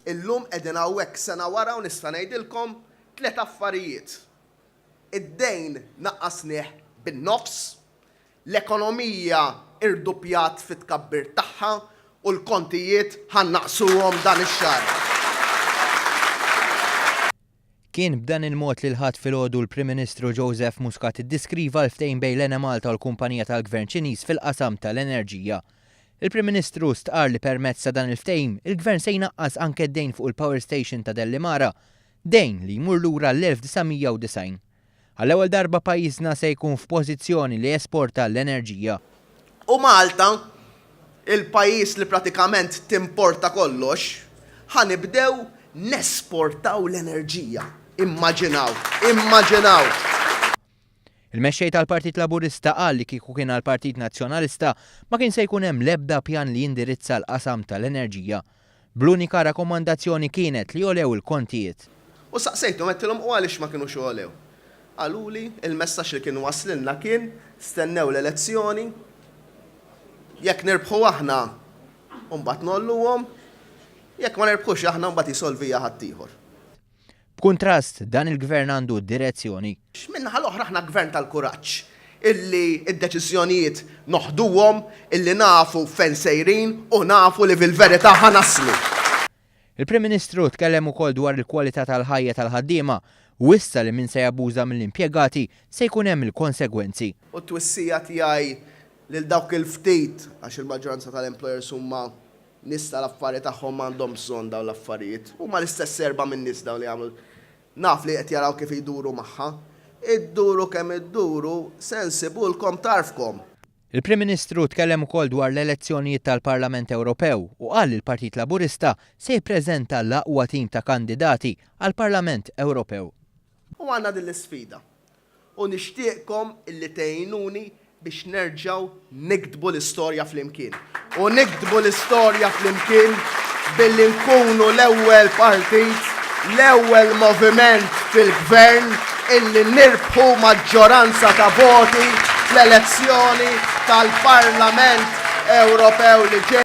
Illum qegħdin hawnhekk sena wara u nista' ngħidilkom tliet affarijiet, id-dejn naqqasnieh bin-nofs, l-ekonomija irduppjat fit-tkabbir tagħha u l-kontijiet ħa nnaqqsuhom dan ix-xahar. Kien b'dan il-mod li l-Ħadd filgħodu l-Prim Ministru Joseph Muscat iddiskriva l-ftehim bejn l-Enemalta u l-kumpanija tal-Gvern Ċiniż fil-qasam tal-enerġija. Il-Prim Ministru stqarr li permezz ta' dan il-ftehim, il-Gvern se jnaqqas anke d-dejn fuq il-power station ta' Delimara, dejn li jmur lura l-1990. Għall-ewwel darba pajjiżna se jkun f'pożizzjoni li jesporta l-enerġija. U Malta, il-pajjiż li pratikament timporta kollox, ħa nibdew nesportaw l-enerġija. Immaġinaw! Immaġinaw! Il-Mexxej tal-Partit Laburista qal li kieku kien għall-Partit Nazzjonalista ma kien se jkun hemm l-ebda pjan li jindirizza l-qasam tal-enerġija. bl-unika rakkomandazzjoni kienet li għolew il-kontijiet. U saqsejthom, għedtilhom, u għaliex ma kinux għolew? Qaluli, il-messaġġ li kien waslilna kien, stennew l-elezzjoni, jekk nirbħu aħna, imbagħad ngħolluhom, jekk ma nirbħux aħna, imbagħad jsolviha ħaddieħor. B'kuntrast, dan il-Gvern għandu direzzjoni. Min-naħa l-oħra aħna Gvern tal-kuraġġ, illi d-deċiżjonijiet noħduhom, illi nafu fejn sejrin u nafu li fil-verità ħa naslu. Il-Prim Ministru tkellem ukoll dwar il-kwalità tal-ħajja tal-ħaddiema, wissa li min se jabbuża mill-impjegati se jkun hemm il-konsegwenzi. U t-twissija tiegħi lil dawk il-ftit, għax il-maġġoranza tal-employers huma Nies tal-affari tagħhom m'għandhom bżonn dawn l-affarijiet. Huma l-istess erbgħa minn nies dawn li jagħmlu l. Naf li qed jaraw kif iduru magħha. Idduru kemm idduru, se nsibulkom tarfkom! Il-Prim Ministru tkellem ukoll dwar l-elezzjonijiet tal-Parlament Ewropew u qal li l-Partit Laburista se jippreżenta l-aqwa tim ta' kandidati għall-Parlament Ewropew. U għandna din l-isfida. U nixtieqkom illi tgħinuni biex nerġgħu niktbu l-istorja flimkien. U niktbu l-istorja flimkien billi nkunu l-ewwel partit, l-ewwel moviment fil-Gvern illi nirbħu maġġoranza ta' voti fl-elezzjoni tal-Parlament Ewropew li ġej.